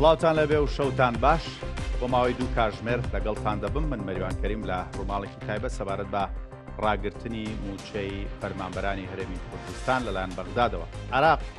سڵاوتان لە بێ و شەوتان باش بۆ ماوەی دوو کاژمێر لەگەڵتان دەبم من مەریوان کەریم لە ڕووماڵێکی تایبە سەبارەت بە ڕاگررتنی موچەی فەرمانبەرانی هەرێمی کوردستان لەلایەن بەغدادەوە عراق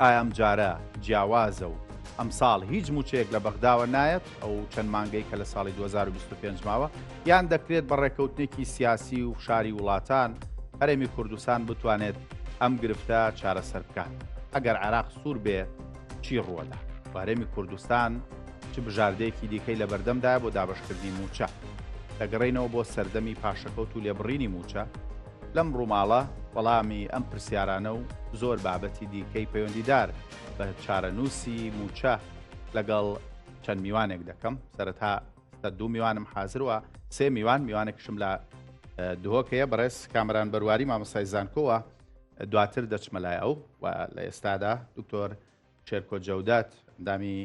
ئایا ئەم جارە جیاوازە و ئەمساڵ هیچ مووچەیەک لە بەغداوە نایەت ئەو چەند مانگەی کە لە ساڵی 2025 ماوە یان دەکرێت بە ڕێکەوتنێکی سیاسی و فشاری وڵاتان هەرێمی کوردستان بتوانێت ئەم گرفتە چارەسەر بکات ئەگەر عراق سوور بێ چی ڕووەدا وارێمی کوردستان چ بژاردەیەکی دیکەی لە بەردەمدا بۆ دابشکردنی موچە دەگەڕینەوە بۆ سەردەمی پاشەکەوت و لێبڕینی موچە لەم ڕووماڵە وەڵامی ئەم پرسیارانە و زۆر بابەتی دیکەی پەیوەندیدار بە چارەنووسی مووچە لەگەڵ چەند میوانێک دەکەم سەرەتا سەر دوو میوانم حازروە سێ میوان میوانێکشم لە دهۆکەیە بەڕێز کامران بەرواری مامەسای زانکۆوە دواتر دەچمە لای ئەو و لە ئێستادا دکتۆر شێرکۆ جەودات ئەندامی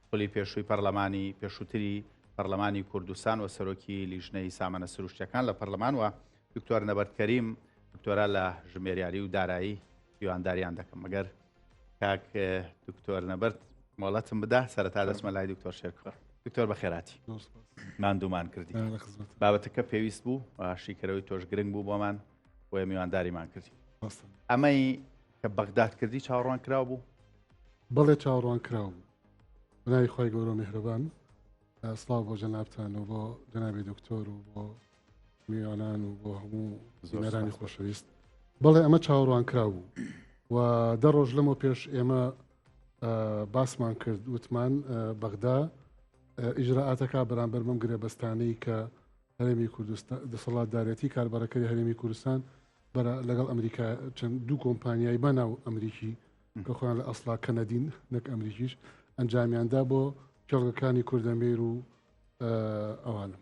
خولی پێشووی پەرلەمانی پێشووتری پەرلەمانی کوردستان و سەرۆکی لیژنەی سامانە سروشتەکان لە پەرلەمانوە دکتۆر نەبەرد کەریم دکتۆرا لە ژمێریاری و دارایی دیوانداریان دەکەم مەگەر کاک دکتۆر نەبەرد مۆڵەتم بدا سەرەتا دەسمە لای دکتۆر شێرکڕ دکتۆر بە خێراتی ماندومان کردی بابەتەکە پێویست بوو شیکەرەوەی تۆش گرنگ بوو بۆمان بۆ میوانداریمان کردی ئەمەی کە بەغداد کردی چاوەڕوان کراو بوو بەڵێ چاوەڕوان کراو بوو بەناوی خۆی گەورە میهرەبان سلااو بۆ جەنابان و بۆ جەنابی دکتۆر و بۆ میوانان و بۆ هەموو زۆرانی خۆشەویست بەڵێ ئەمە چاوەڕوان کرا بوو و دە ڕۆژ لەمە پێش ئێمە باسمان کرد وتمان بەغدا ئیجرراعاتەکە بەرامبەر بم گرێ بەستانەی کە هەرێمی کوردستان دەسەڵاتدارەتی کاربەرەکەی هەرێمی کوردستان بەرە لەگەڵ ئەمریکا چەند دوو کۆمپانیای بەناو ئەمریکی کە خۆیان لە ئەسلا کەنەدین نەک ئەمریکیش ئەنجامیاندا بۆ کێڵگەکانی کوردەمێر و ئەوانم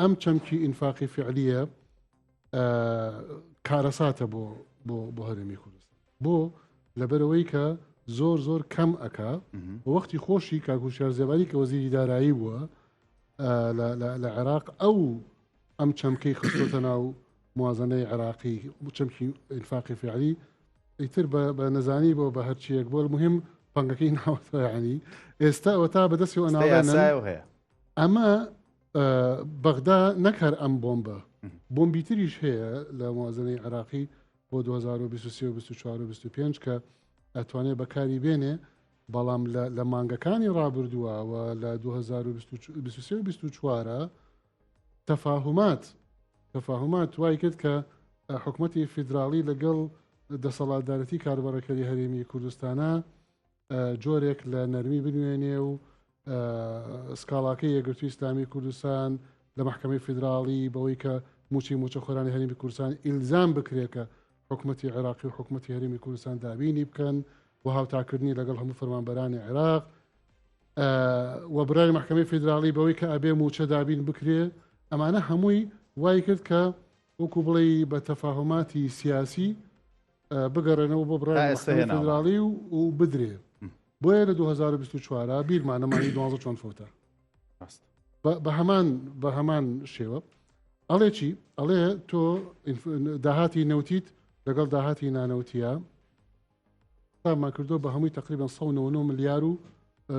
ئەم چەمکی ئینفاقی فعلیە کارەساتە بۆ بۆ هەرێمی کوردستان بۆ لەبەرەوەی کە زۆر زۆر کەم ئەک وەختی خۆشی کاکوشار زێباری کە وەزیری دارایی بووە لە عێراق ئەو ئەم چەمکەی خستۆتە ناو موازنەی عێراقی چەمکی ئینفاقی فعلی ئیتر بە نەزانی بۆ بە هەرچیەک بۆ مهم پەنگەکەی ناوەتەوەیانی ئێستا ئەوە تا بەدەستی ئەناڵێن هەیە ئەمە بەغدا نەک هەر ئەم بۆمبە بۆمبی تریش هەیە لە موازنەی عراقی بۆ 2023 کە ئەتوانێت بەکاری بێنێ بەڵام لە مانگەکانی ڕابردووە و لە 2024 تەفاهمات تەفاهمات وای کرد کە حکوومەتتی فیدراڵی لەگەڵ دەسەڵاتدارەتی کاربەڕەکەری هەرێمی کوردستانە جۆرێک لە نەرمی بنوێنێ و سکاڵاکەی یەگرتوی ئسلامی کوردستان لە محکمەی فیدراڵی بەوەی کە موچی موچەخۆرانی هەرمی کوردستان ئیلزام بکرێکە حکوومەتتی عێراقی و حکوومەتتی هەرمی کوردستان دابینی بکەن و هاوتاکردنی لەگەڵ هەموو فەرمانبەرانی عێراق و برای محکمەی فیدراڵی بەوەی کە ئەبێ موچە دابین بکرێ ئەمانە هەمووی وای کرد کە وەکو بڵێ بە تەفاهماتی سیاسی بگەڕێنەوە بۆ بڕای مەحکەمەی فدراڵی و و بدرێ بۆیە لە 2024 بیرمانەمانی دوازە چۆن فوتە بە هەمان بە هەمان شێوە ئەڵێ چی ئەڵێ تۆ داهاتی نەوتیت لەگەڵ داهاتی نانەوتە تامان کردو بە هەمووی تقریبان 199 ملیار و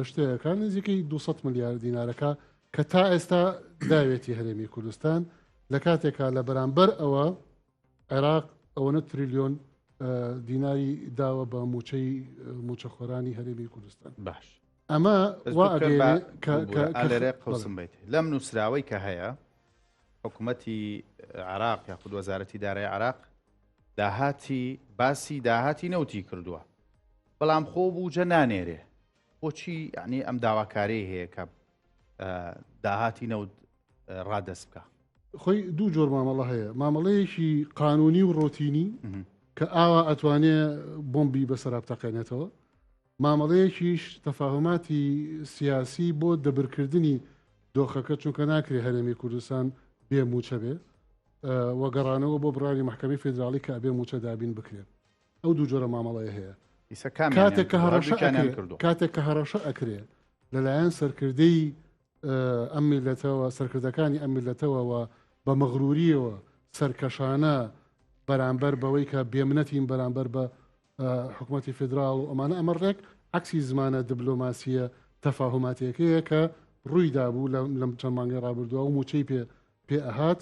شتەکان نزیکەی 200 ملیار دینارەکە کە تا ئێستا داوێتی هەرێمی کوردستان لە کاتێکا لە بەرامبەر ئەوە عێراق ئەوەنە تریلیۆن دیناری داوە بە موچەی موچەخۆرانی هەرێمی کوردستان باش ئەمە لێرێ قسم بیت لەم نووسراوەی کە هەیە حکوومەتی عراق یاخود وەزارەتی دارای عراق داهاتی باسی داهاتی نەوتی کردووە بەڵام خۆ بووجە نانێرێ بۆچی ینی ئەم داواکاری هەیە کە داهاتی نەوت ڕادەست بکە خۆی دوو جۆر مامەڵە هەیە مامەڵەیەکی قانونی و ڕۆتینی کە ئاوا ئەتوانێ بۆمبی بەسەرا بتەقێنێتەوە مامەڵەیەکیش تەفاهماتی سیاسی بۆ دەبرکردنی دۆخەکە چونکە ناکرێ هەرێمی کوردستان بێ موچە بێ وەگەڕانەوە بۆ بڕانی محکەمی فیدراڵی کە ئەبێ موچە دابین بکرێن ئەو دوو جۆرە مامەڵەیە هەیە کاتێک کە هەڕەشە کردو کاتێک کە هەڕەشە ئەکرێ لەلایەن سەرکردەی ئەم میلەتەوە سەرکردەکانی ئەم میلەتەوەوە بە مەغروریەوە سەرکەشانە بەرامبەر بەوەی کە بێمنەتین بەرامبەر بە حکوومەتتی فیدرال و ئەمانە ئەمە ڕێک عکسی زمانە دبلۆماسیە تەفاهماتەکەیە کە ڕوویدا بوو لەم چەند مانگەی ڕابردووە و موچەی پێ پێ ئەهات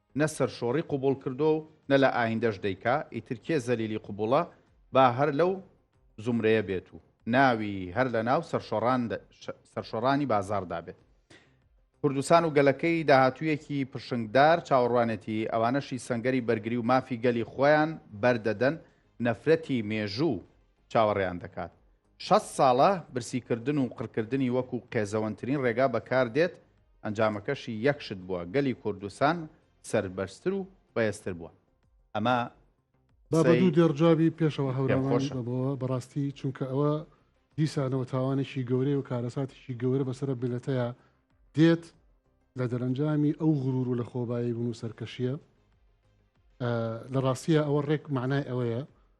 نە سەرشۆڕی قبوڵ کردوە و نە لە ئایندەش دەیکا، ئیتر کێ زەلیلی قبوڵە با هەر لەو زومرەیە بێت و ناوی هەر لە ناو سەرشۆڕانی بازاڕدا بێت. کوردستان و گەلەکەی داهاتوویەکی پرشنگدار چاوەڕوانێتی، ئەوانەشی سەنگەری بەرگری و مافی گەلی خۆیان بەردەدەن، نەفرەتی مێژوو چاوەڕێیان دەکات. شەست ساڵە برسیکردن و قڕکردنی وەکو قێزەوەنترین ڕێگا بەکاردێت، ئەنجامەکەشی یەک شت بووە، گەلی کوردستان سەربەرزتر و بەێزتر بووە. ئەمە با بە دوو قسەی دێڕ جوابی پێشەوا پێم هەورامان خۆشە. بەبەوە بەڕاستی چونکە ئەوە دیسانەوە تاوانێکی گەورەیە و کارەساتێکی گەورە بەسەرە میلەتەیا دێت لە دەرەنجامی ئەو غرور و لە خۆبایی بون و سەرکەشیە لە ڕاستیە ئەوە ڕێک مەعنای ئەوەیە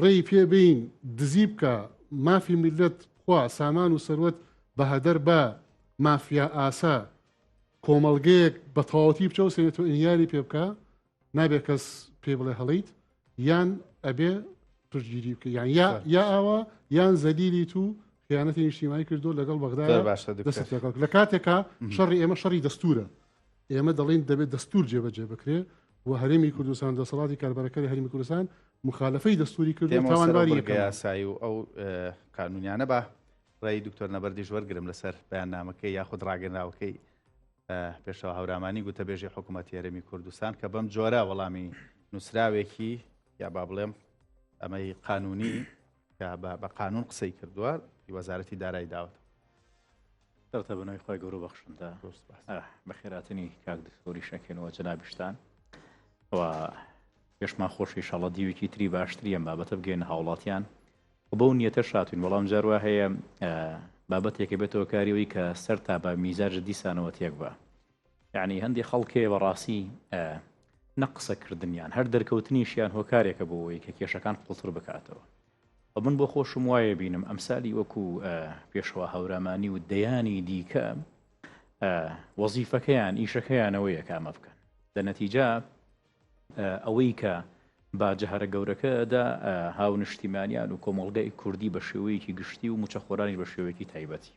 ڕێی پێ بین دزی بکە مافی میللەت بخوا سامان و سەروەت بە هەدەر با مافیا ئاسا کۆمەڵگەیەک بە تەواوەتی بچەوە سێنێت و ئینیاری پێ بکە نابێت کەس پێ بڵێ هەڵیت یان ئەبێ پشتگیری بکە یان یا یا ئاوا یان زەلیلی تو خیانەتی نیشتیمانی کردو لەگەڵ بەغدا باشە دەست لەگەڵ لە کاتێکا شەڕی ئێمە شەڕی دەستورە ئێمە دەڵێن دەبێت دەستور جێبەجێ بکرێ و هەرێمی کوردستان دەسەڵاتی کاربەرەکەی هەرمی کوردستان مخالفەی دەستوری کرد تاوانباری یاسایی و ئەو قانونیانە بە ڕێی دکتۆر نەبەردیش وەرگرم لەسەر بەیاننامەکەی یاخود ڕاگەنراوەکەی پێشەوە هەورامانی گوتەبێژی حکوومەت یارەمی کوردستان کە بەم جۆرە وەڵامی نووسراوێکی یا با بڵێم ئەمەی قانونی کە بە بە قانون قسەی کردووە وەزارەتی دارای داوت دڵتە بنەوەی خۆی گەورە بەخشندا بە خێراتنی کاک دکتۆری شەکەنەوە جنابشتان و پێشمان خۆشی شەڵە دیوێکی تری باشتری ئەم بابەتە بگەین هاوڵاتیان بۆ نیەتە شاتین وەڵام جاروا هەیە بابەتێکە بێتەوە کاریەوەی کە سەر تا بە میزاج دیسانەوە تێک بە یانی هەندی خەڵکێ بەڕاستی نە قسەکردنیان هەر دەرکەوتنیشیان هۆکارێکە بۆ ئەوەی کە کێشەکان قوڵتر بکاتەوە و من بۆ خۆشم وایە بینم ئەمسالی وەکو پێشەوە هەورامانی و دەیانی دیکە وەزیفەکەیان ئیشەکەیانەوەیە کامە بکەن لە نەتیجا ئەوەی کە باجە هەرە گەورەکەدا هاو نیشتیمانیان و کۆمەڵگای کوردی بە شێوەیەکی گشتی و موچەخۆرانی بە شێوەیەکی تایبەتی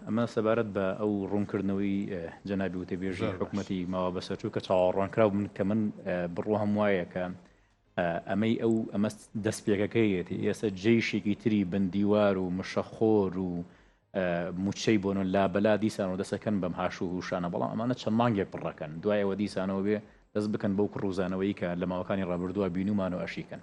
ئەمە سەبارەت بە ئەو ڕوونکردنەوەی جەنابی وتەبێژی حکوومەتی ماوە بەسەرچوو کە چاوەڕوانکراو من کە من بڕوام وایە کە ئەمەی ئەو ئەمە دەست پێکەکەیەتی ئێستا جێشێکی تری بندیوار و مشەخۆر و موچەی بۆن لابەلا دیسان و دەسەکەن بەم هاش و هوشانە بەڵام ئەمانە چەند مانگێک پڕەکەن دوایەوە دیسانەوە بێ دەست بکەن بەو کڕوزانەوەی کە لە ماوەکانی ڕابردووە بینومان و ئەشیکەن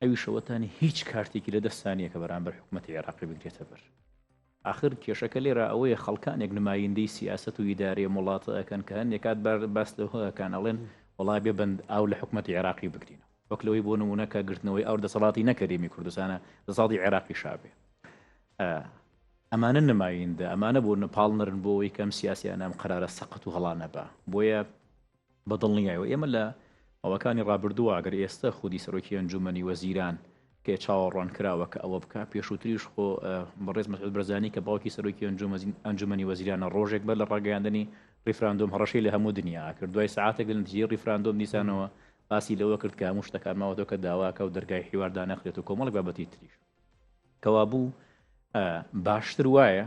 ئەویش ئەوەتا نیە هیچ کارتێکی لە دەستتا نیە کە بەرامبەر حکومەتی عێراقی بگرێتە بەر. ئاخر کێشەکە لێرە ئەوەیە خەڵکانێک نمایندەی سیاسەت و ئیدارەی ئەم وڵاتە ئەکەن کە هەندێک کات باس لەوە ئەکەن ئەڵێن وەڵا بێ بەند ئاو لە حکومەتی عێراقی بگرینەوە وەک لەوەی بۆ نمونە کە گرتنەوەی ئەو دەسەڵاتی نەکەریمی کوردستانە دەسەڵاتی عێراقی شابێ ئەمانە نمایندە ئەمانە بۆ نەپاڵنرن بۆ ئەوەی کەم سیاسیان ئەم قرارە سەقەت و هەڵانەبا بۆیە بە دڵنیایەوە ئێمە لە ماوەکانی ڕابردووە ئەگەر ئێستە خودی سەرۆکی ئەنجومەنی وەزیران پێ چاوەڕوان کراوە کە ئەوە بکە پێشووتریش خۆ بەڕێز مەسعود بەرزانی کە باوکی سەرۆکی ئەنجومەنی وەزیرانە ڕۆژێک بەر لە ڕاگەیاندنی ریفراندۆم هەڕەشەی لە هەموو دنیا کرد دوای سعاتێک لە نتیجەی ریفراندۆم دیسانەوە باسی لەوە کرد کە هەموو شتەکان ماوەتەوە کە داواکە و دەرگای حیواردا نەخرێت و کۆمەڵک بابەتی تریش کەوابوو باشتر وایە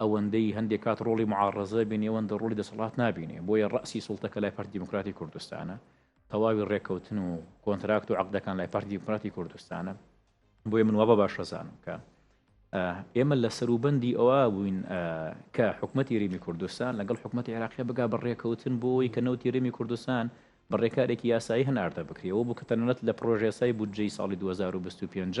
ئەوەندەی هەندێک کات ڕۆڵی معاڕزە بینی ئەوەندە ڕۆلی دەسەڵات نابینێ بۆیە ڕاسی سڵتە کە لای پەر دیموکراتی کوردستانە تەواوی ڕێککەوتن و کۆنتراکت و عقدەکان لای پەر دیموکراتی کوردستانە بۆیە من وابە باشەزانم کە ئێمە لە سەروبەندی ئەوە بووین کە حکوومەتتی ریمی کوردستان لەگەڵ حکوومەتتی عراقی بگا بەڕێکەوتن بۆی کە نەوتی ریمی کوردستان بە ڕێکارێکی یاسایی هەناردە بکرێەوە بوو کە تەنانەت لە پرۆژێسای بودجەی ساڵی 2025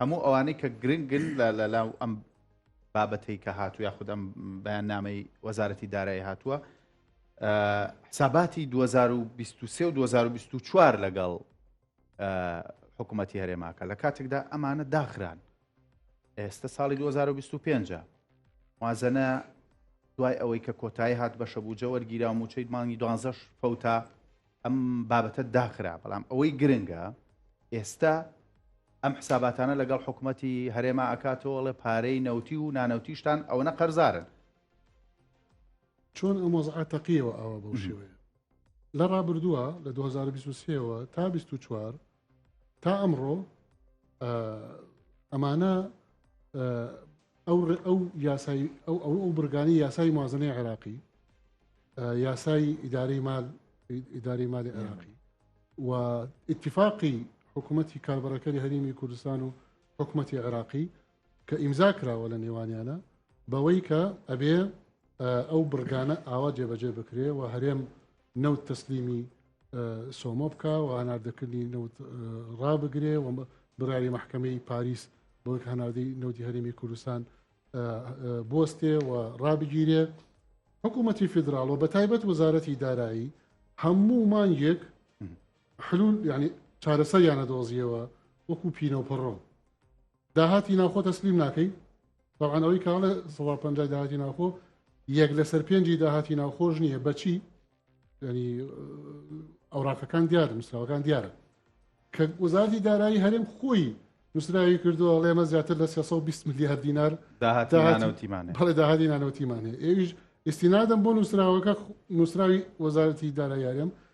هەموو ئەوانەی کە گرنگن لە لەلاو ئەم بابەتەی کە هاتو یاخود ئەم بەیان نامەی وەزارەتی دارایی هاتووە حساباتی 2023 و 2024 لەگەڵ حکوومەتتی هەرێماکە لە کاتێکدا ئەمانە داخران ئێستا ساڵی 2025 وازەنە دوای ئەوەی کە کۆتایی هات بەشە بوو جەوەرگیرا و موچەیت مانگی دوانزەش فەوتا ئەم بابەتە داخرا بەڵام ئەوەی گرنگە ئێستا ئەم حساباتانە لەگەڵ حکوومەتتی هەرێما ئەکاتەوەڵێ پارەی نەوتی و نانەوتیشتان ئەوە نە قەرزارن چۆن ئەم وەزعە تەقیەوە ئاوا بەو شێوەیە لە ڕابردووە لە 2023ەوە تا 24 تا ئەمڕۆ ئەمانە ئەو ئەو یاسای ئەو ئەو ئەو برگانی یاسای مازنەی عێراقی یاسای ئیداری مال ئیداری مالی عێراقی و اتفاقی حکوومەتتی کاربەرەکەری هەرمی کوردستان و حکوومەتتی عێراقی کە ئیمزا کراوە لە نێوانیانە بەوەی کە ئەبێ ئەو برگانە ئاوا جێبەجێ بکرێ و هەرێم نەوت تەسلیمی سۆمۆ بکا و هەناردەکردنی نەوت ڕابگرێ و بڕاری مححکەمەی پاریس بۆک هەناردەی نەوتی هەرێمی کوردستان بستێ و ڕابگیرێ حکوومەتی فیدراڵ و بە تایبەت وەزارەتی دارایی هەموو مانگێک حلول ینی چارەسەریانە دۆزیەوە وەکو پینە و پڕۆ داهاتی ناوخۆ تەسلیم ناکەی بەڵان ئەوەی کاڵە سەدا پ داهاتی ناوخۆ یەک لەسەر پێنجی داهاتی ناوخۆش نییە بەچی ینی ئەوراقەکان دیارە نووسراوەکان دیارە کە وەزارتی دارایی هەرێم خۆی نووسراوی کردووە ئەڵێمە زیاتر لە 320 میلیار دینار داهاتیمانەوەتیمانێ داهاتی نانەوەتیمانێ ئێویش ئستینادەم بۆ نووسراوەکە نووسراوی وەزارەتی دارایارم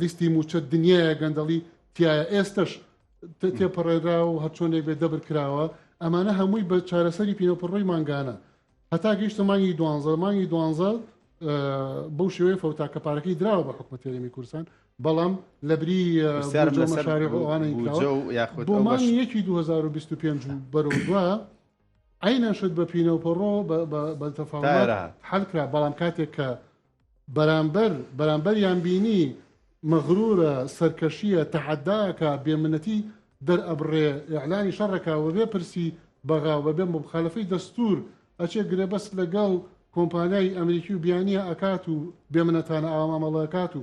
لیستی موچە دنیاە گەندەڵی تایە ئێستش تێپەڕێرا و هەرچۆنێک بێ دەبر کراوە ئەمانە هەمووی بە چارەسەری پینەپڕۆی مانگانە هەتا گەیشتە مانگی دوانزە مانگی دوانزە بەو شێوەیە فەوتا کە پارەکەی دراوە بە حکومە تێرەمی کورسان بەڵام لە بری بۆمانی یەکی 2025 بەرەو دووە ئەینەشت بە پینەوپەڕۆ بەتەفاات حلکرا بەڵام کاتێک کە بەرامبەر بەرامبەریان بینی مەغرورە سەرکەشیە تەحەدا ئەکا بێ منەتی دەر ئەبڕێ ئیعلانی شەڕ ئەکا وەبێ پرسی بەغا وەبێ موبخالەفەی دەستور ئەچێ گرێبەست لەگەڵ کۆمپانیای ئەمریکی و بیانیە ئەکات و بێ منەتانە ئاوا مامەڵە ئەکات و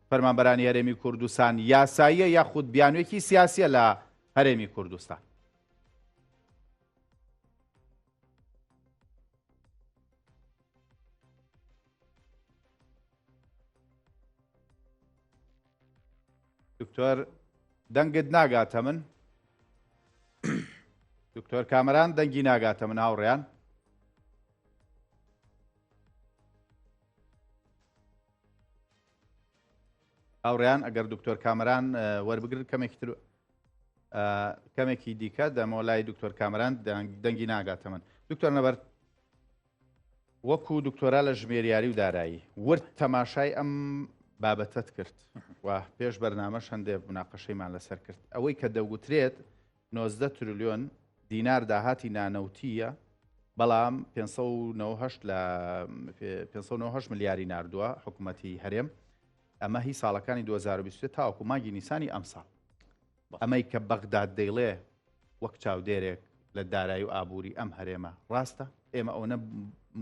فەرمانبەرانی هەرێمی کوردستان یاساییە یاخود بیانوێکی سیاسیە لە هەرێمی کوردستان. دکتۆر دەنگت ناگاتە من دکتۆر کامەران دەنگی ناگاتە من هاوڕیان هاوڕیان ئەگەر دکتۆر کامران وەربگرن کەمێکی تر کەمێکی دیکە دەمەوە لای دکتۆر کامران دەنگی ناگاتە من دکتۆر نەبەر وەکو دکتۆرا لە ژمێریاری و دارایی ورد تەماشای ئەم بابەتت کرد و پێش بەرنامە شەندێ بناقەشەیمان لەسەر کرد ئەوەی کە دەوترێت نۆزدە ترلیۆن دینار داهاتی نانەوتییە، بەڵام پێنج سەد و نەوەد و هەشت لە پێنج سەد و نەوەد و هەشت ملیاری ناردووە حکوومەتی هەرێم ئەمە هی ساڵەکانی 2023 تاوەکو مانگی نیسانی ئەمساڵ ئەمەی کە بەغداد دەیڵێ وەک چاودێرێک لە دارایی و ئابووری ئەم هەرێمە ڕاستە ئێمە ئەوەنە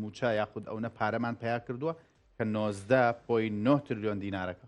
موچە یاخود ئەوەنە پارەمان پیا کردووە کە 90 پۆی 9 ترلیۆن دینارەکە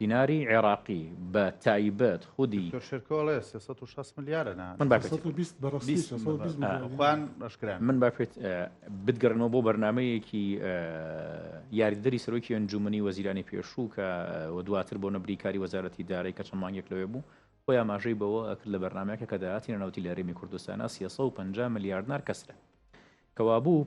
دیناری عێڕاقی بە تایبەت خودی. دکتۆر شێرکۆ ئەڵێ سێ سەد و شەست ملیارە نە. من با پێت من با پێت بتگەڕێنەوە بۆ بەرنامەیەکی یاریدەری سەرۆکی ئەنجومنی وەزیرانی پێشوو کە و دواتر بۆ نەبریکاری وەزارەتی دارای کە چەند مانگێک لەوێ بوو خۆی ئاماژەی بەوە ئەکرد لە بەرنمەکە کە داهاتی نەوتی لە هەرێمی کوردستانە 350 ملیارد نار کەسرە کەوابوو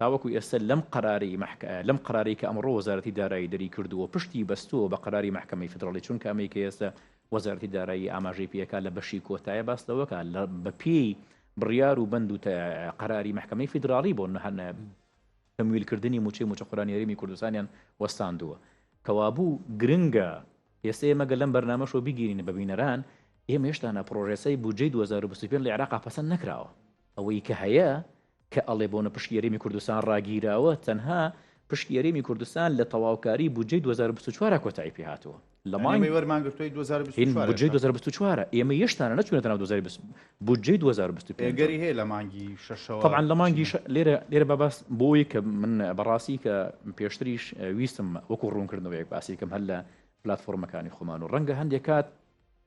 تاوەکو ئێستا لەم قەرارەی مەحک لەم قەرارەی کە ئەمڕۆ وەزارەتی دارایی دەری کردووە پشتی بەستووە بە قەراری مەحکەمەی فیدراڵی چونکە ئەمەی کە ئێستا وەزارەتی دارایی ئاماژەی پێکا لە بەشی کۆتایە باس لەوەکە لە بەپێی بڕیار و بەند و قەراری مەحکەمەی فیدراڵی بۆ نەهەنە تەمویلکردنی موچەی موچەخۆرانی هەرێمی کوردستانیان وەستاندووە کەوابوو گرنگە ئێستا ئێمەگە لەم بەرنمەشەوە بگیرین بە بینەران ئێمە هێشتانە پرۆژێسای بودجەی 2025 لە عێراقا پەسەند نەکراوە ئەوەی کە هەیە کە ئەڵێ بۆنە پشکی هەرێمی کوردستان ڕاگیراوە، تەنها پشکی هەرێمی کوردستان لە تەواوکاری بودجەی دوو هەزار و بیست و چوار را کۆتایی پێ هاتووە. لە مانگی. ئەمەی وەرمان گرتووی دوو هەزار و بیست و چوار. بودجەی دوو هەزار و بیست و چوار ە. ئێمە هێشتانە نەچوونەتە ناو دوو هەزار و بیست. بودجەی دوو هەزار و بیست و پێنج. ئەگەری هەیە لە مانگی شەشەوە. تەبعەن لە مانگی شە. لێرە لێرە با باس بۆ ئەوەی کە من بە ڕاستی کە پێشتریش ویستم وەکوو ڕوونکردنەوەیەک باسی بکەم هەر لە پلاتفۆڕمەکانی خۆمان و ڕەنگە هەندێک کات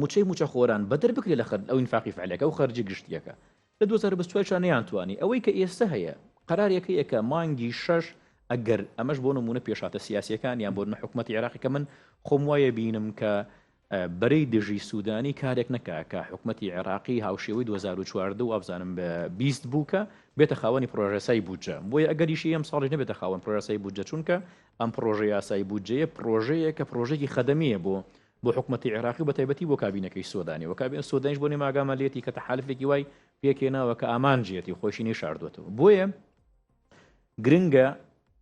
موچەی موچەخۆران بەدەر بکرێ لە خەرج ئەو ئینفاقی فعلەکە ئەو خەرجی گشتیەکە لە دوو هەزار و بیست و چوار چا نەیانتوانی ئەوەی کە ئێستە هەیە قەرارێک هەیە کە مانگی شەش ئەگەر ئەمەش بۆ نمونە پێشاتە سیاسیەکان یان بۆ نە حکوومەتی عێراقی کە من خۆم وایە بینم کە بەرەی دژی سوودانی کارێک نەکا کە حکوومەتتی عێراقی هاوشێوەی 2014 و ئەفزانم بە بیست بوو کە بێتە خاوەنی پرۆژەسای بودجە بۆیە ئەگەریشی ئەم ساڵی نەبێتە خاوەن پرۆژەسای بودجە چونکە ئەم پرۆژە یاسای بودجەیە پرۆژەیە کە پرۆژێکی خەدەمیە بۆ بۆ حکومەتی عێراقی و بەتایبەتی بۆ کابینەکەی سۆدانی و کابینە سۆدانیش بۆ نێمە ئاگامان لێتی کە تەحالفێکی وای پێکێناوە کە ئامانجێتی خۆشی نەیشاردوەتەوە بۆیە گرنگە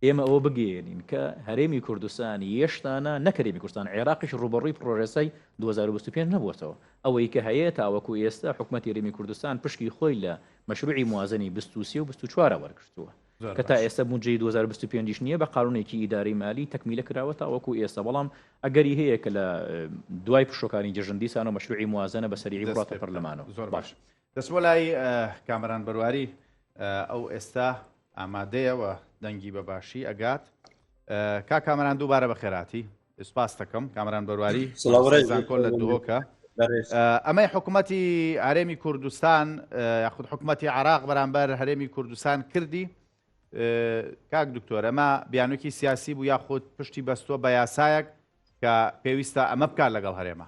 ئێمە ئەوە بگەێنین کە هەرێمی کوردستان یشتانە نەکەێمی کوردستان عێراقیش ڕوبەڕووی پرۆژەسای 2025 نەبووەوە ئەوەی کە هەیە تاوەکو ئێستا حکوومەتی رێمی کوردستان پشکی خۆی لە مەشروعی موازنی 23 و 24 وەرگتووە کە تا ئێستا بودجەی دوو هەزار و بیست و پێنج یش نییە بە قانونێکی ئیدارەی مالی تەکمیلە کراوە تاوەکو ئێستا بەڵام ئەگەری هەیە کە لە دوای پشوەکانی جەژن دیسان و مەشروعی موازنە بە سەریعی بڕاتە پەرلەمانەوە زۆر باش دەست بۆ لای کامەران بەرواری ئەو ئێستا ئامادەیەوە دەنگی بە باشی ئەگات کا کامەران دووبارە بە خێراتی سپاس دەکەم کامران بەرواری زانکۆ لە دۆکە ئەمەی حکوومەتی ئارێمی کوردستان یاخود حکوومەتی عراق بەرامبەر هەرێمی کوردستان کردی کاک دکتۆر ئەمە بیانوکی سیاسی بوو یاخود پشتی بەستووە بە یاسایەک کە پێویستە ئەمە بکات لەگەڵ هەرێمە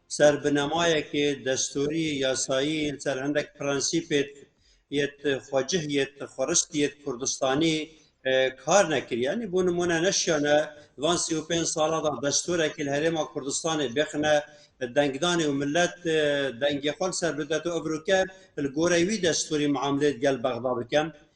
سەر بنەمایەکێ دەستوری یاسایی سەر هەندێک پرەنسیپێت یەت خۆجه یەت خۆرست یەت کوردستانی کار نەکریانی بۆ نمونە نەشیانە وان سی و پێ ساڵدا دەستورێکی هەرێما کوردستانی بخنە دەنگدانی و ملت دەنگی خۆل سەر بدەێت و ئەبروکە گۆرەوی دەستوری معاملێت گەل بەغدا بکەم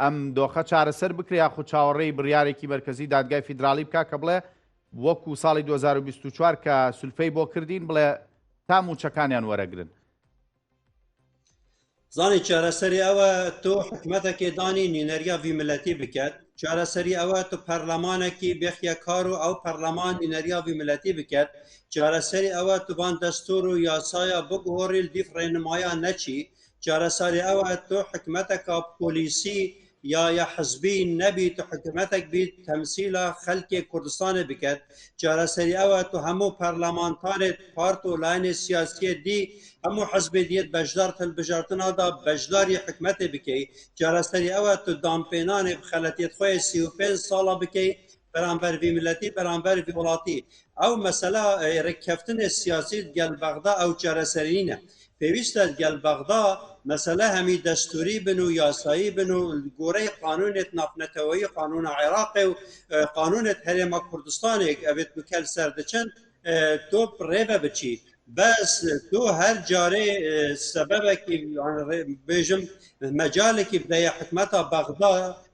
ئەم دۆخە چارەسەر بکرێ یاخود چاوەڕێی بڕیارێکی مەرکەزی دادگای فیدراڵی بکە کە بڵێ وەکو ساڵی 2024 کە سولفەی بۆ کردین بڵێ تا موچەکانیان وەرەگرن زانی چارەسەری ئەوە تۆ حکومەتەکێ دانی نینەریا وی ملەتی بکات چارەسەری ئەوە تو پەرلەمانێکی بێخیە کار و ئەو پەرلەمان نینەریا وی ملەتی بکات چارەسەری ئەوە توبان دەستور و یاسایە بگۆڕیل دیف ڕێنمایان نەچی چارەسەری ئەوە تۆ حکومەتەکە پۆلیسی یا یا حزبی نەبیت و حکومەتێک بیت تەمسیلا خەلکێ کوردستانی بکات چارەسەری ئەوە تو هەموو پەرلەمانتارێت پارت و لاینێ سیاسیە دی هەموو حزبێ دیت بەشدار هەلبژارتنادا بەشداری حکومەتێ بکەیت چارەسەری ئەوە تو دامپێنانێ خەلەتێت خۆی سی و پێنج ساڵە بکەیت بەرامبەر وی ملەتی بەرامبەر وی وڵاتی ئەو مەسەلا ڕێککەفتنە سیاسی گەل بەغدا ئەو چارەسەرینە پێویستە گەل بەغدا مەسەلە هەمی دەستوری بن و یاسایی بن و گۆرەی قانونێت نافنەتەوەی قانونە عێراقێ و قانونێت هەرێمە کوردستانێک ئەبێت بکەل سەر دەچن تۆ ڕێبە بچیت بەس تۆ هەر جارێ سەبەبێکی بێژم مەجالێکی بدەیە حکومەتە بەغدا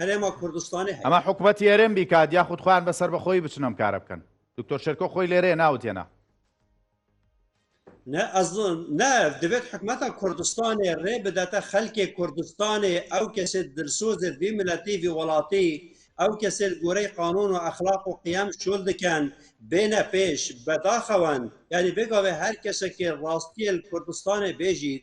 هەرێمە کوردستانی ئەمە حکوومەت یێرم بیکات یا خود خۆیان بەسەر بەخۆی بچنم کارە بکەن دکتۆر شێرکۆ خۆی لێرێ ناوتێنا نە ئەزن نە دەبێت حکومەتە کوردستانی ڕێ بداتە خەلکێ کوردستانی ئەو کەسێت درسۆزێت بی ملەتیوی وڵاتی ئەو کەسێت گۆرەی قانون و ئەخلاق و قیام شول دکەن بێنە پێش بەداخەوەن یاری بێگاێ هەر کەسێکی ڕاستیل کوردستانی بێژیت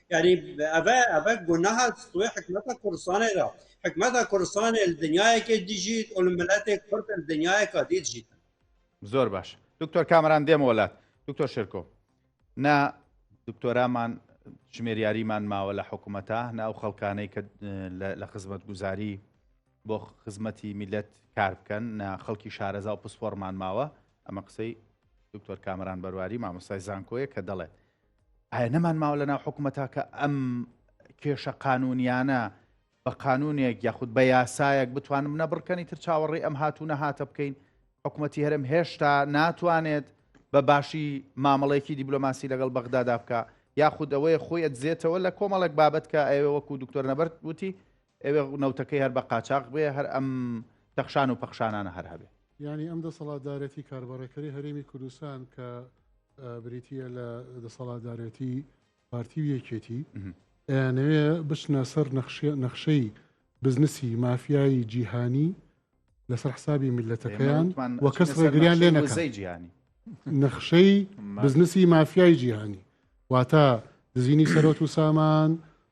یعنی ئەە ئەە گوناها سوێ حکومەتە کوردستانێدا حکومەتە کوردستانێ دنیایەکێ دیژیت ئەو ملەتێک کورد دنیایەکە دیجیت زۆر باش دکتۆر کامران دێمە وڵات دکتۆر شرکۆ نا دکتۆرامان ژمێریاریمان ماوە لە حکوومەتە ناو خەڵکانەی کە لە خزمەت گوزاری بۆ خزمەتی میلەت کار بکەن نا خەڵکی شارەزا و پسپۆرمان ماوە ئەمە قسەی دکتۆر کامران بەرواری مامۆستای زانکۆیە کە دەڵێت ئایا نەمان ماوە لە ناو حکوومەتە کە ئەم کێشە قانونیانە بە قانونێک یاخود بە یاسایەک بتوانم نەبڕکەنی تر چاوەڕی ئەم هاتوو نەهاتە بکەین حکوومەتتی هەرم هێشتا ناتوانێت بە باشی مامەڵێکی دیبلۆماسی لەگەڵ بەغدادا بکە یاخود ئەوەیە خۆی ئەدزێتەوە لە کۆمەڵێک بابەت کە ئەوێ وەکو دکتۆر نەبەر وتی ئەوێ نەوتەکەی هەر بە قاچاغ بێ هەر ئەم تەخشان و پەخشانانە هەر هەبێ. یانی ئەم دەسەڵاتدارێتی کاربەڕێکەری هەرێمی کوردستان کە بریتییە لە دەسەڵاتدارێتی پارتی و یەکێتی ئەیانەوێ بچنە سەر نەخشەی بزنسی مافیایی جیهانی لەسەر حسابی میلەتەکەیان و کەس ڕێگریان لێ نەکەی جیهانی نەخشەی بزنسی مافیایی جیهانی واتە دزینی سەرۆت و سامان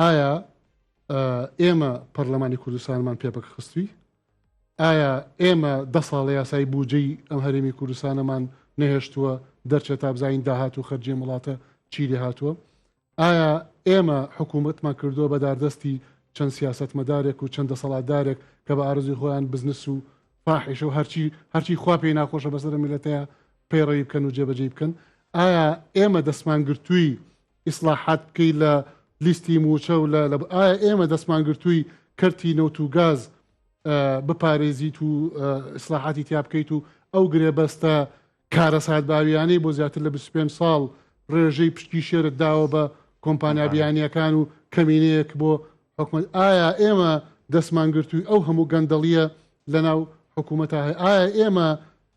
ئایا ئێمە پەرلەمانی کوردستانمان پێپەک خستوی ئایا ئێمە دە ساڵە یاسایی بودجەی ئەم هەرێمی کوردستانەمان نەهێشتووە دەرچێت تا بزانین داهات و خەرجێ وڵاتە چی لێ هاتووە ئایا ئێمە حکوومەتمان کردووە بە داردەستی چەند سیاست مەدارێک و چەند دەسەڵاتدارێک کە بە ئارزی خۆیان بزنس و فاحیشە و هەرچی هەرچی خوا پێی ناخۆشە بەسەر میلەتەیە پەیڕەوی بکەن و جێبەجێ بکەن ئایا ئێمە دەستمان گرتووی ئیسلاحات بکەی لە لیستی مووچە و لە ئایا ئێمە دەستمانگرتووی کەرتی نەوت و گاز بپارێزیت و ئیسلاحاتی تیا بکەیت و ئەو گرێبەستە کارەسات باویانەی بۆ زیاتر لە 25 ساڵ ڕێژەی پشتی شێرت داوە بە کۆمپانیا بیانیەکان و کەمینەیەک بۆ حکومت ئایا ئێمە دەستمانگرتووی ئەو هەموو گەندەڵیە لەناو حکوومەتە هەیە ئایا ئێمە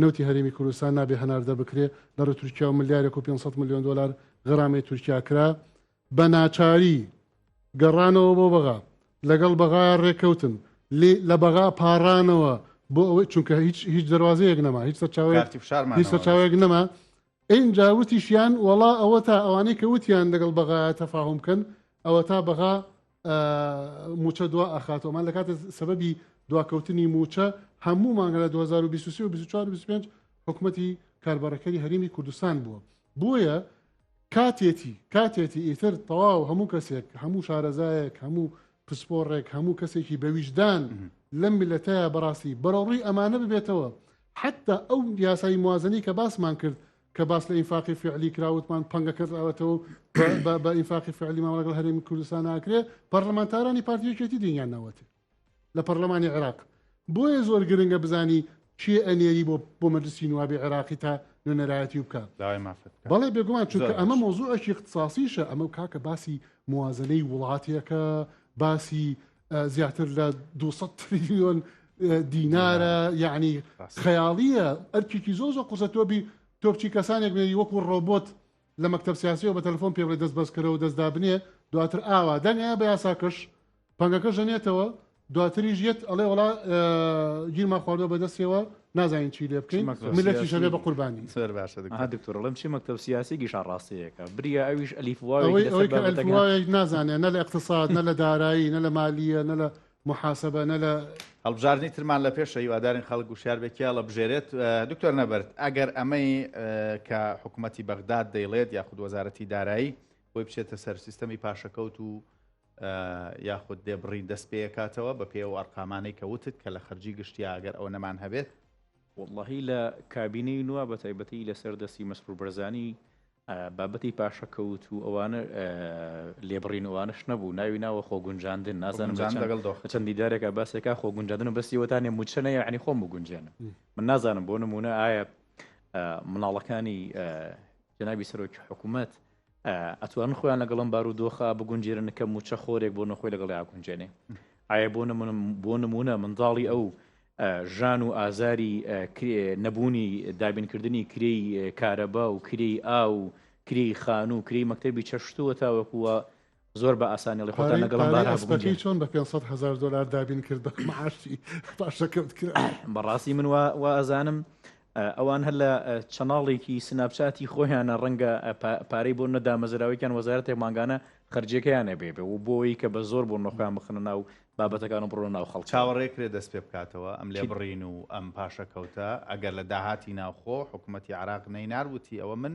نەوتی هەرێمی کوردستان نابێ هەناردە بکرێ لە ڕێ تورکیا و ملیارێک و پێنج سەد ملیۆن دۆلار غەرامەی تورکیا کرا بە ناچاری گەڕانەوە بۆ بەغا لەگەڵ بەغایا ڕێکەوتن لێ لە بەغا پاڕانەوە بۆ ئەوەی چونکە هیچ هیچ دەروازەیەک نەما هیچ سەرچاوەیەک کارتی فشارمان هیچ نەما سەرچاوەیەک نەما ئینجا وتیشیان وەڵا ئەوەتا ئەوانەی کە وتیان لەگەڵ بەغایە تەفاهم بکەن ئەوەتا بەغا موچە دوا ئەخات ئەمان لە کاتە سەبەبی دواکەوتنی موچە هەموو مانگە لە 2023 و 24 25 حکومەتی کاربەڕەکەری هەرمی کوردستان بووە بۆیە کاتێتی کاتێتی ئیتر تەواو هەموو کەسێک هەموو شارەزایەک هەموو پسپۆڕێک هەموو کەسێکی بەویژدان لەم میلەتەیە بەڕاستی بەرەڕووی ئەمانە ببێتەوە حەتتا ئەو یاسای موازنەی کە باسمان کرد کە باس لە ئینفاقی فعلی کراوتمان پەنگە کردراوەتەوە بە ئینفاقی فعلی مامەڵەگەڵ هەرێمی کوردستان ناکرێ پەرلەمانتارانی پارتی یەکێتی دنیان ناوەتێ لە پەرلەمانی عێراق بۆیە زۆر گرنگە بزانی کێ ئەنێری بۆ بۆ مەجلسی نوابی عێراقی تا نوێنەرایەتی بکە داوای مافت بکە. بەڵێ بێگومان چونکە زۆر ئەمە باش. مۆزوعێکی اختصاصیشە ئەمە کاکە باسی موازنەی وڵاتێکە باسی زیاتر لە 200 تریلیۆن دینارە یعنی خەیاڵیە ئەرکێکی زۆ زۆ قوزە تۆبی تۆپچی کەسانێک بێری وەکو ڕۆبۆت لە مەکتب سیاسیەوە بە تەلفۆن پێڵێ دەست بەسکەرەوە دەستدا بنێ دواتر ئاوا دەنگە بە یاساکەش پەنگەکە ژەنێتەوە دواتریش یەت ئەڵێ وڵا گیرما خواردۆ بەدەستەوە نازانین چی لێ بکەین ملەتیش بێ بە قوربانی دکتۆرڵم چی مەکتب سیاسی گیشا ڕاستەیەەکە بریا ئەویش ئەلیفواەوەی نازانێت نە لە اقتصاد نە لە دارایی نە لە مالیە نە لە محاسبە نە لە هەڵبژاردننی ترمان لە پێش هیوادارین خەڵک گوشار بێکیا لە بژێرێت دکتۆر نەبرد ئەگەر ئەمەی کە حکوومەتتی بەغداد دەیڵێت یاخود وەزارەتی دارایی بۆی بچێتە سەر سیستەمی پاشەکەوت و یاخود دێ بڕین دەست پێیەکاتەوە بە پێی ئەو ئەرقامانەی کە وتت کە لە خەرجی گشتیا ئەگەر ئەوە نەمان هەبێت؟ وەڵاهی لە کابینەی نوا بە تایبەتی لە سەر دەستی مەسرور بەرزانی بابەتی پاشەکەوت و ئەوانە لێبڕین ئەوانش نەبوو ناوی ناوە خۆ گونجاندن نازانم لەگەڵ دۆخ چەند دیدارێکە باسێکا خۆ گونجاندن و بەسیوەتانێ موچەنە یعنی خۆم بگونجێنم من نازانم بۆ نمونە ئایا مناڵەکانی جنابی سەرۆکی حکوومەت ئەتوانن خۆیان لەگەڵم بار و دۆخە بگونجێرن کە موچە خۆرێک بۆ نەخۆی لەگەڵ یاگونجێنێ ئایا بۆ بۆ نمونە منداڵی ئەو ژان و ئازاری نەبوونی دابینکردنی کرێی کارەبا و کرێی ئا و کرێی خان و کرێی مەکتتەبی چەشتووە تاوەکووە زۆر بە ئاسانی ئەڵێ خۆتان لەگەڵم بارە ئەبگونجێن. پارەی ئەسپەکەی چۆن بە پێنج سەد هەزار دۆلار دابین کرد بە معاشی پاشەکەوت کرا؟ بەڕاستی من وا ئەزانم ئەوان هەر لە چەناڵێکی سناپچاتی خۆیانە ڕەنگە پارەی بۆ نەدامەزراوەیان وەزارەتێک مانگانە خرجەکەیانە بێ بێ و بۆی کە بە زۆر بۆ نەخۆیان بخنە ناو بابەتەکان و بڕۆ ناو خەڵک چاوەڕێ کرێ دەست پێ بکاتەوە ئەم لێ بڕین و ئەم پاشەکەوتە ئەگەر لە داهاتی ناوخۆ حکوومەتتی عراق نەینار وتی ئەوە من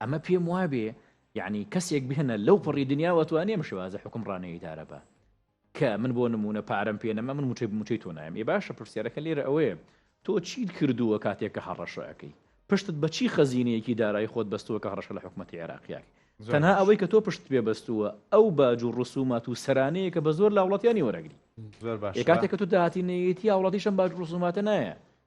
ئەمە پێم وابێ یعنی کەسێک بهێنە لەو پڕی دنیا وتوانێ ئەم شێوازە حکم ڕانەیە ئیدارە بە کە من بۆ نمونە پارەم پێ نەما من موچەی موچەی تۆ نایم ێ باشە پرسیارەکە لێرە ئەوەیە تۆ چیت کردووە کاتێک کە هەڕەشەکەی پشتت بە چی خەزینەیەکی دارایی خۆت بەستووە کە هەڕەشە لە حکوومەتتی عێراقیاک تەنها ئەوەی کە تۆ پشت پێ بەستووە ئەو باج و ڕسومات و سەرانەیە کە بە زۆر لاوڵاتیانی وەرەگری کاتێک کە تۆ داهاتینەتی هاوڵاتیشم باج ڕسوماتە نایە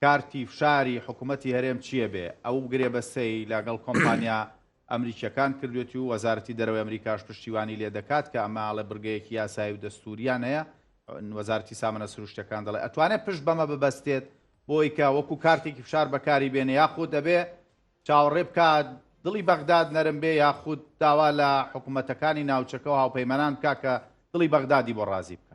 کارتی فشاری حکومەتی هەرێم چیە بێ ئەو گرێبەستەی لە گەڵ کۆمپانیا ئەمریکیەکان کردوێتی و وەزارەتی دەرەوەی ئەمریکاش پشتیوانی لێ دەکات کە ئەمە ئەڵێ بڕگەیەکی یاسایی و دەستوریان هەیە وەزارەتی سامەنە سروشتەکان دەڵێ ئەتوانێت پشت بەمە ببەستێت بۆی کە وەکو کارتێکی فشار بەکاری بێنێ یاخود ئەبێ چاوەڕێ بکات دڵی بەغداد نەرم بێ یاخود داوا لە حکوومەتەکانی ناوچەکە و هاوپەیمانان بکا کە دڵی بەغدادی بۆ ڕازی بکە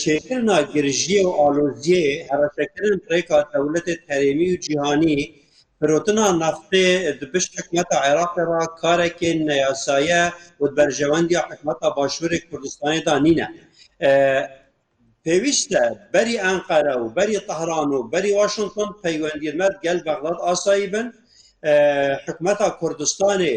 چێکردنا گرژیە و ئالۆزیێ هەڕەشەکردن ڕێکا دەولەتێ هەرێمی و جیهانی فرۆتنا نەفتێ دبش حکومەتە عێراقێ را کارێکێ نەیاسایە و بەرژەوەندیا حکومەتە باشوورێ کوردستانی دا نینە. پێویستە بەری ئەنقەرە و بەری تەهران و بەری واشنگتن پەیوەندیمەت گەل بەغداد ئاسایی بن حکومەتە کوردستانێ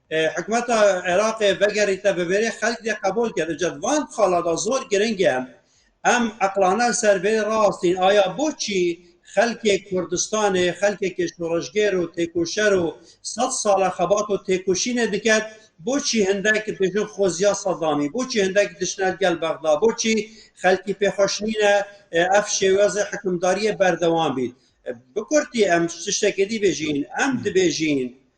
حکومەتە عێراقێ بەگەریتە بەبێرێ خەلک لێ قبول کرد جەت وان خاڵادا زۆر گرنگە ئەم عقلانە سەرێ ڕاستین ئایا بۆچی خەلکێ کوردستانێ خەلکێکی شۆڕژگێر و تێکوشەر و سە ساڵە خەبات و تێکوشینە دکات بۆچی هەندێک بێژن خۆزیا سەدامی بۆچی هەندێک دشنات گەل بەغدا بۆچی خەلکی پێخۆشنینە ئەف شێوازە حکومداریە بەردەوام بیت بکورتی ئەم شتێکێتی بێژین ئەم دبێژین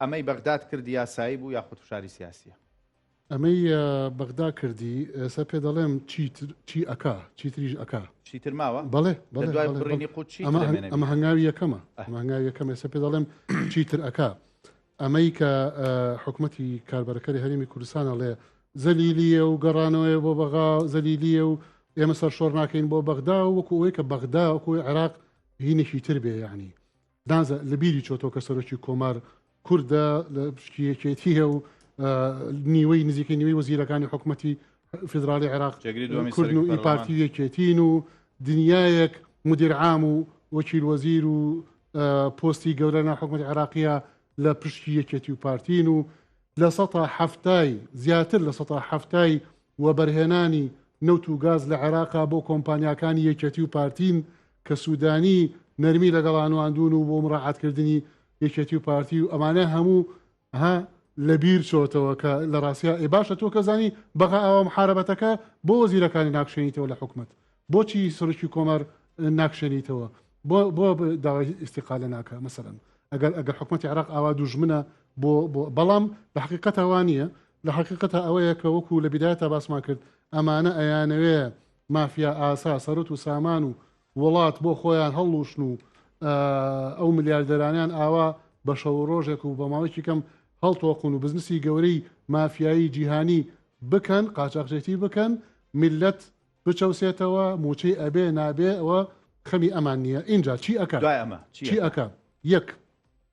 ئەمەی بەغداد کردی یاسایی بوو یاخود فشاری سیاسیە؟ ئەمەی بەغدا کردی ئێستا پێ دەڵێم چی ئەکا چیتریش ئەکا. چیتر ماوە؟ بەڵێ بەڵێ دوای بەڵێ، بڕینی بەڵێ. قوت چی ئەمە هەنگ- ئەمە هەنگاوی یەکەمە ئەه. ئەمە هەنگاوی یەکەم ئێستا پێ دەڵێم چیتر ئەکا ئەمەی کە ئە، حکومەتی کاربەرەکەری هەرێمی کوردستان ئەڵێ زەلیلیە و گەڕانەوەیە بۆ بەغا زەلیلیە و ئێمە سەرشۆڕ ناکەین بۆ بەغدا و وەکو ئەوەی کە بەغدا وەکو عێراق هینێکی تر بێ یانی نازە لە بیری چۆتەوە کە سەرۆکی کۆمار کوردە لە پشکی یەکێتیە و نیوەی نزیکەی نیوەی وەزیرەکانی حکوومەتی فیدراالی عێراق کوردن و پارتی یەکێتین و دنیایەک مدیرعام و وەکیل وەزیر و پۆستی گەورە ناحکومەت عێراقیە لە پشتی یەکێتی و پارتین و لە سە هەفتای زیاتر لە سە هەفتای وەبەرهێنانی نەوت و گاز لە عێراقا بۆ کۆمپانیاکانی یەکێتی و پارتین کە سودانی نەرمی لەگەڵا نواندون و بۆ مڕاعاتکردنی یەکێتی و پارتی و ئەمانە هەموو ها لە بیر چۆتەوە کە لە ڕاستیا ئێ باشە تۆ کە زانی بەغا ئاوا محارەبەتەکە بۆ وەزیرەکانی ناکشێنیتەوە لە حکومەت بۆچی سەرکی کۆمار ناکشێنیتەوە بۆ بۆ داوای ئیسیقالە ناکە مەسەرەن ئەگەر ئەگەر حکومەتی عراق ئاوا دوژمنە بۆ بەڵام لە حقیقەتەوە نییە لە حقیقەتە ئەوەیە کە وەکو لە بدایە تا باسمان کرد ئەمانە ئەیانەوێ مافیا ئاسا سەرت و سامان و وڵات بۆ خۆیان هەڵلوشن و ئەو ملیاردەرانیان ئاوا بە شەو ڕۆژێک و بە ماوەیەکی کەم هەڵتۆقون و بزنسی گەورەی مافیایی جیهانی بکەن قاچاخچێتی بکەن میلەت بچەوسێتەوە موچەی ئەبێ نابێ ئەوە خەمی ئەمان نییە ئینجا چی ئەکات دوای ئەمە چی ئەکە یەک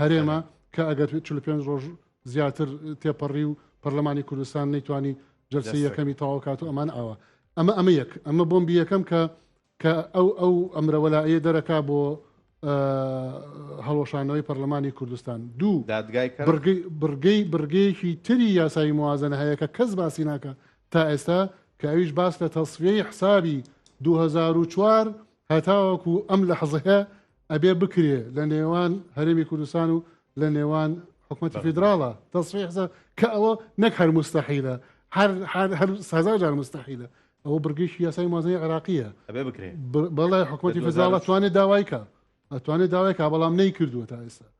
هەرێمە کە ئەگەر 45 ڕۆژ زیاتر تێپەڕی و پەرلەمانی کوردستان نەیتوانی جلسی یەکەمی تەواوکات و ئەمان ئاوە ئەمە ئەمە یەک ئەمە بۆم بیەکەم کە کە ئەو ئەو ئەمرەوەلائە دەرەکا بۆ هەڵۆشانەوەی پەرلەمانی کوردستان دوو دادگای بڕگەی بڕگەیەکی تری یاسایی موازنە هەیە کە کەس باسی ناکە تا ئێستا کە ئەویش باس لە تەسفیەی حسابی 2004 هەتاوەکو ئەم لە حەزەیە ئەبێ بکرێ لە نێوان هەرێمی کوردستان و لە نێوان حکوومەتی فیدراڵە تەسفی حسە کە ئەوە نەک هەر مستەحیلە هەر سازا جار مستەحیلە ئەوە بڕگەیشی یاسای مازنی عراقیە ئەبێ بکرێ بەڵێ حکوومەتی فیدراڵە توانێت داوایکە ئەتوانێت داوای کا بەڵام نەی کردووە تا ئێستا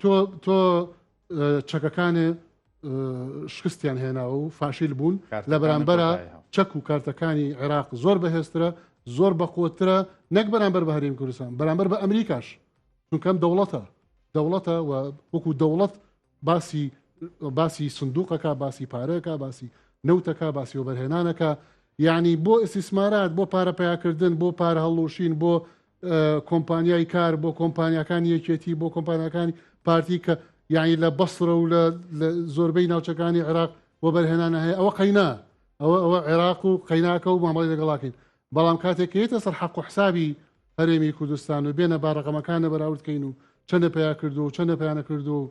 تۆ تۆ چەکەکانێ شکستیان هێناوە و فاشیل بوون لە بەرامبەرە چەک و کارتەکانی عێراق زۆر بەهێزترە زۆر بەقوترە نەک بەرامبەر بە هەریم کوردستان بەرامبەر بە ئەمریکاش چونکەم دەوڵەتە دەوڵەتە و وەکو دەوڵەت باسی باسی سندوقەکە باسی پارەکە باسی نەوتەکە باسی وەبەرهێنانەکە یعنی بۆ ئیسیسمارات بۆ پارە پیاکردن بۆ پارە هەڵلوشین بۆ کۆمپانیای کار بۆ کۆمپانیەکانی یەکێتی بۆ کۆمپانیەکانی پارتی کە یعنی لە بەسرە و لە زۆربەی ناوچەکانی عێراق بۆ بەرهێنانە هەیە ئەوە قەینا ئەوە ئەوە عێراق و قەیناکە و مامەڵی لەگەڵاکەین بەڵام کاتێکیتە سەر حەق و حسابی هەرێمی کوردستان و بێنە باڕەقەمەکانە بەراوردکەین و چەندە پیا کردو و چەندە پیانە کردو و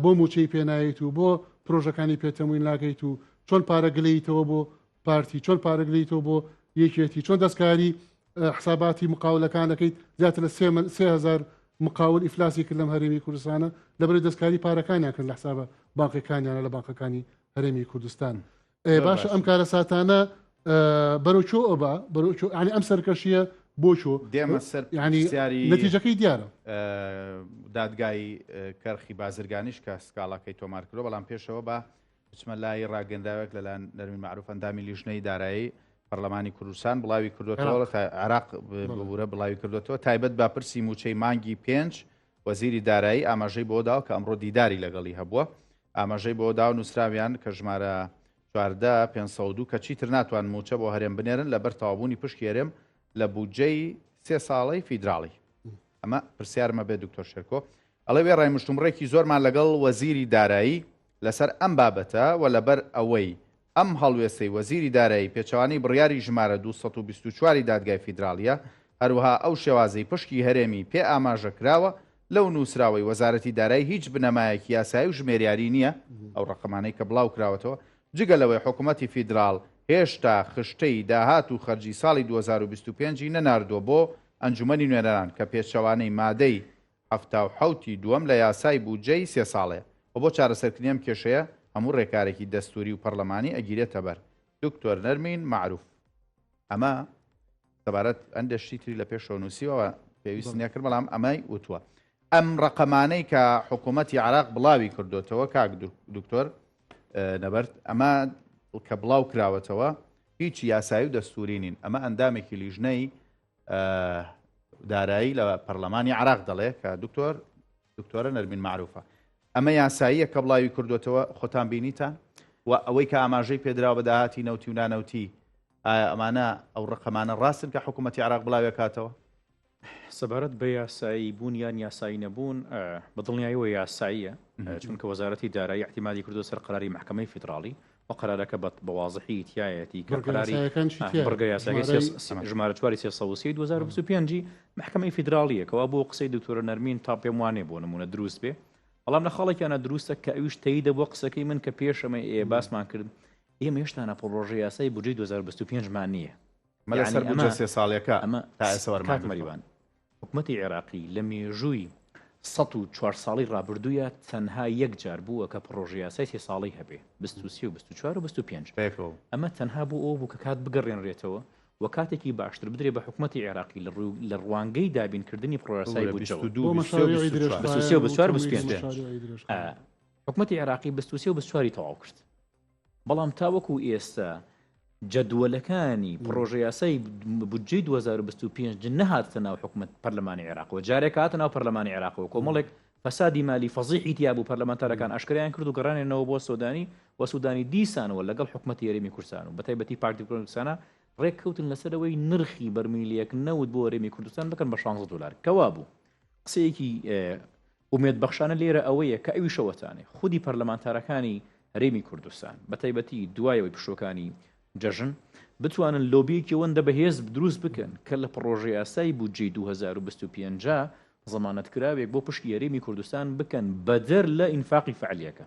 بۆ موچەی پێنایت و بۆ پرۆژەکانی پێتەموین ناکەیت و چۆن پارە گلەیتەوە بۆ پارتی چۆن پارەگریتەوە بۆ یەکێتی چۆن دەستکاری حساباتی مقاولەکانەکەیت زیاتر لە سهزار مقاول ئیفلاسی کرد لەم هەرێمی کوردستانە لەبری دەستکاری پارەکانیان کرد لە حسابە باقەکانیانە لە باقەکانی هەرێمی کوردستان باشە ئەم کارە ساتانە بەرەوچۆ ئەبا بەرەوچۆ ینی ئەم سەرکەشیە بۆچۆ دێمە سەر ینی نەتیجەکەی دیارە دادگای کەرخی بازرگانیش کە سکاڵاکەی تۆمار کرد بەڵام پێشەوە بە بچمە لای ڕاگەندراوێک لەلایەن نەرمین معروف ئەندامی لیژنەی دارایی پەرلەمانی کوردستان بڵاوی کردوێتەوە تا عراق ببوورە بڵاوی کردوێتەوە تایبەت بە پرسی موچەی مانگی پێنج وەزیری دارایی ئاماژەی بۆ داو کە ئەمڕۆ دیداری لەگەڵی هەبووە ئاماژەی بۆ داو نووسراویان کە ژمارە 5 کە چیتر ناتوان موچە بۆ هەرێم بنێرن لەبەر تاوابوونی پشکی هەرێم لە بودجەی سێ ساڵی فیدراڵی ئەمە پرسیارمە بێ دکتۆر شێرکۆ ئەڵێ وێ ڕای مشتومڕێکی زۆرمان لەگەڵ وەزیری دارایی لەسەر ئەم بابەتە و لەبەر ئەوەی ئەم هەڵوێستەی وەزیری دارایی پێچەوانەی بڕیاری ژمارە دوو سەد و بیست و چوار ی دادگای فیدراڵییە، هەروەها ئەو شێوازەی پشکی هەرێمی پێ ئاماژە کراوە، لەو نووسراوەی وەزارەتی دارایی هیچ بنەمایەکی یاسایی و ژمێریاری نییە، ئەو ڕەقەمانەی کە بڵاو کراوەتەوە، جگە لەوەی حکوومەتی فیدراڵ هێشتا خشتەی داهات و خەرجی ساڵی دوو هەزار و بیست و پێنج ی نەناردووە بۆ ئەنجوومەنی نوێنەران کە پێچەوانەی مادەی حەفتا و حەوت ی دووەم لە یاسای بودجە ی سێ ساڵەیە و بۆ چارەسەرکردنی ئەم کێشەیە هەموو رێکارێکی دەستووری و پەڕلەمانی ئەگیرێتەبەر، دکتۆر نەرمین مەعروف. ئەمە سەبارەت هەندێ شتی تری لە پێشەوە نووسیوە و پێویست نییە کرد بەڵام ئەمەی وتووە. ئەم رەقەمانەی کە حکوومەتی عێراق بڵاوی کردۆتەوە کاک دکتۆر نەبەرد ئەمە کە بڵاو کراوەتەوە هیچ یاسایی و دەستووری نین ئەمە ئەندامێکی لیژنەی دارایی لە پەرلەمانی عراق دەڵێ کە دکتۆر دکتۆرە نەرمین معروفە ئەمە یاساییە کە بڵاوی کردوێتەوە خۆتان بینیتە و ئەوەی کە ئاماژەی پێدراوە بە داهاتی نەوتی و نانەوتی ئایا ئەمانە ئەو ڕقەمانە ڕاستن کە حکوومەتتی عراق بڵاوێکاتەوە سەبارەت بە یاسایی بوون یان یاسایی نەبوون بە دڵنیاییەوە یاساییە چونکە وەزارەتی دارایی احتیمادی کردو سەر قراری محکمەی فیدراڵی ئەو قەرارەکە بە بە وازحی تیایەتی کە بڕگە قەراری یاسایەکان چی تیایە؟ بڕگە یاساکەی سێ ژمارەی سە ژمارە چواری سێ سەد و سی دوو هەزار و بیست و پێنج ی مەحکەمەی فیدراڵییە کەوا بۆ قسەی دکتۆرە نەرمین تا پێم وانیە بۆ نموونە دروست بێ بەڵام لە خاڵێکیان نەدروستە کە ئەویش تەییدە بۆ قسەکەی من کە پێش ئەمەی ئێ باسمان کرد ئێمە هێشتا نە پڕۆژە یاسای بودجەی دوو هەزار و بیست و پێنج مان نییە مەلا سەر یانی بودجە ئەمە سێ ساڵیەکە ئەمە تا ئێستا وەرمان کاک گرتووە مەریوان حکومەتی عێراقی لە مێژووی سەد و چوار ساڵی ڕابردوویا تەنها یەک جار بووە کە پڕۆژەیاسای سێ ساڵەی هەبێ، بیست و سێ و بیست و چوار و بیست و پێنج، ئەمە تەنها بۆ ئەوە بوو کە کات بگەڕێنرێتەوە و کاتێکی باشتر بدرێ بە حکومەتی عێراقی لە ڕوانگەی دابینکردنی پڕۆژەیاسای بودجەوە. بۆ مەشاریعی درێژخایەن و تەمویلی مەشاریعی درێژخایەن. حکومەتی عێراقی بیست و سێ و بیست و چوار ی تەواو کرد. بەڵام تاوەکو ئێستا جەدوەلەکانی پڕۆژەیاسای بودجەی 2025 نەهاتە ناو حکومت پەرلەمانی عێراقەوە جارێک هاتە ناو پەرلەمانی عێراقەوە کۆمەڵێک فەسادی مالی فەزیحی تیاب و پەرلەمانتارەکان ئەشکریان کرد و گەڕانێنەوە بۆ سۆدانی و سوودانی دیسانەوە لەگەڵ حکومەت یاریمی کوردستان و بەتایبەتی پارتیکرۆنکسانە ڕێککەوتن لەسەرەوەی نرخی بەرمیلیەک نەوت بۆ رێمی کوردستان بکەن بە 16 دلار کەوا بوو قسەیەکی ئومێدبەخشانە لێرە ئەوەیە کە ئەویش ئەوەتانێ خودی پەرلەمانتارەکانی هەرێمی کوردستان بە تایبەتی دوایەوەی پشووەکانی جەژن بتوانن لۆبیەکی وەندە بەهێز دروست بکەن کە لە پڕۆژە یاسای بودجەی 2025 زەمانەتکراوێک بۆ پشکی هەرێمی کوردستان بکەن بەدەر لە ئینفاقی فەعلیەکە.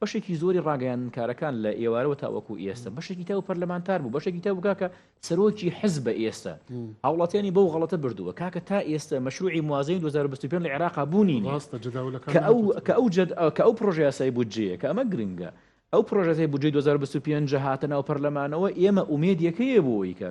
بەشێکی زۆری ڕاگەیاندنکارەکان لە ئێوارەوە تاوەکو ئێستا بەشێکی تاو پەرلەمانتار بوو بەشێکی تاو کاکە سەرۆکی حز بە ئێستا هاوڵاتیانی بەو غڵەتە بردووە کاکە تا ئێستا مەشروعی موازین 2025 لە عێراق بوونی کە ئەو جد کە ئەو پرۆژیاسای بودجەیە کە ئەمە گرنگە ئەو پرۆژەی بودجەی 2025 هاتە ناو پەرلەمانەوە ئێمە ئومێدیەکەیە بۆیکە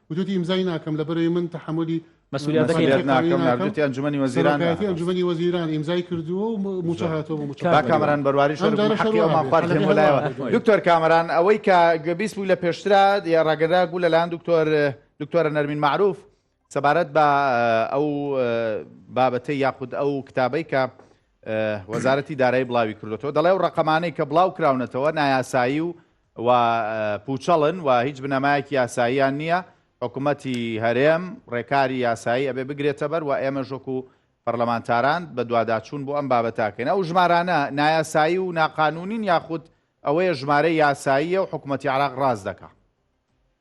وتووتی ئیمزای ناکەم لەبەرەی من تەحەمولی مەسولیەتەکەی ناکەم ناردووتی ئەنجومەنی وەزیران سەرۆکایەتی ئەنجومەنی وەزیران ئیمزای کردووە و مووچە هاتووە بۆ مووچە کاک کامەران بەرواری شۆرد بوو حەقی ئەومان خوارد لەم و لایەوە دکتۆر کامەران ئەوەی کە گوێبیست بووی لە پێشترا یا ڕاگەراک بوو لەلایەن دکتۆر دکتۆرە نەرمین معروف سەبارەت بە ئەو بابەتەی یاخود ئەو کتابەی کە وەزارەتی دارایی بڵاوی کردوەوە دەڵێ و ڕقەمانەی کە بڵاو کراونەتەوە نایاسایی و و پوچەڵن و هیچ بنەمایەکی یاساییان نییە، حکومەتی هەرێم ڕێکاری یاسایی ئەبێ بگرێتەبەر و ئێمەش وەکو پەرلەمانتاران بەدواداچوون بۆ ئەم بابەتە ئەکەین، ئەو ژمارانە نایاسایی و ناقانونین یاخود ئەوەیە ژمارەی یاساییە و حکومەتی عێراق ڕاست دەکا؟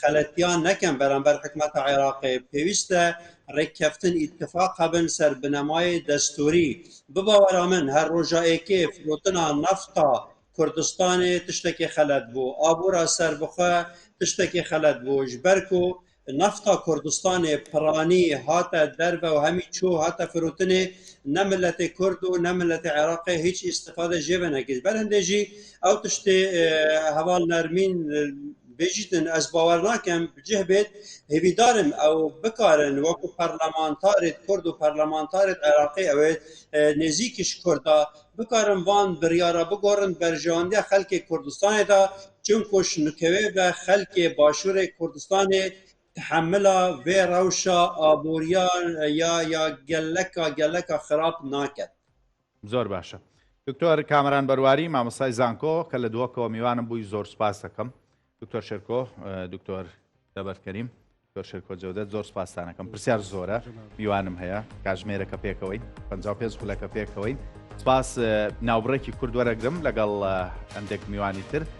خەلەتیان نەکەن بەرامبەر حکومەت عێراقێ، پێویستە رێککەفتن ئیتفاق بن سەر بنەمایێ دەستووری، بباوەرە من هەر رۆژا ئێکێ فرۆتنا نەفتا کوردستانێ تشتەکێ خەلەت بۆ، ئابوورا سەربخوە تشتەکێ خەلەت بۆ، ژ بەرکۆ نەفتا کوردستانێ پرانی هاتە دەرڤە و هەمی چۆ هاتە فرۆتنێ نە ملەتێ کورد و نە ملەتێ عێراقێ هیچ ئیستفادە ژێ بنەکێ، ژ بەر هندێ ژی ئەو تشتێ هەوال نەرمین، بجیتن ئەز باوەر ناکەم بجه بێت هیویدارم ئەو بکارن وەکو پەرلەمانتارێت کورد و پەرلەمانتارێت عێراقی ئەوێت نێزیکیش کوردا بکارن وان بڕیارە بگۆڕن بەرژەوەندیە خەلکی کوردستانێدا چونکوش نکەوێ بە خەلکێ باشوورێ کوردستانێ تحملا وێ ڕەوشە ئابووریان یا یا گەلەکە گەلەکە خراپ ناکەن. زۆر باشە دکتۆر کامەران بەرواری مامۆستای زانکۆ کە لە دووەکەوە میوانم بووی زۆر سپاس دەکەم دکتۆر شێرکۆ دکتۆر دەبەرکەریم دکتۆر شێرکۆ جەودەت زۆر سپاستانەکەم پرسیار زۆرە میوانم هەیە کاژمێرەکە پێکەوەین پ پێ خولەکە پێکەوەین سپاس ناوبڕێکی کوردوەرەگرم لەگەڵ هەندێک میوانی تر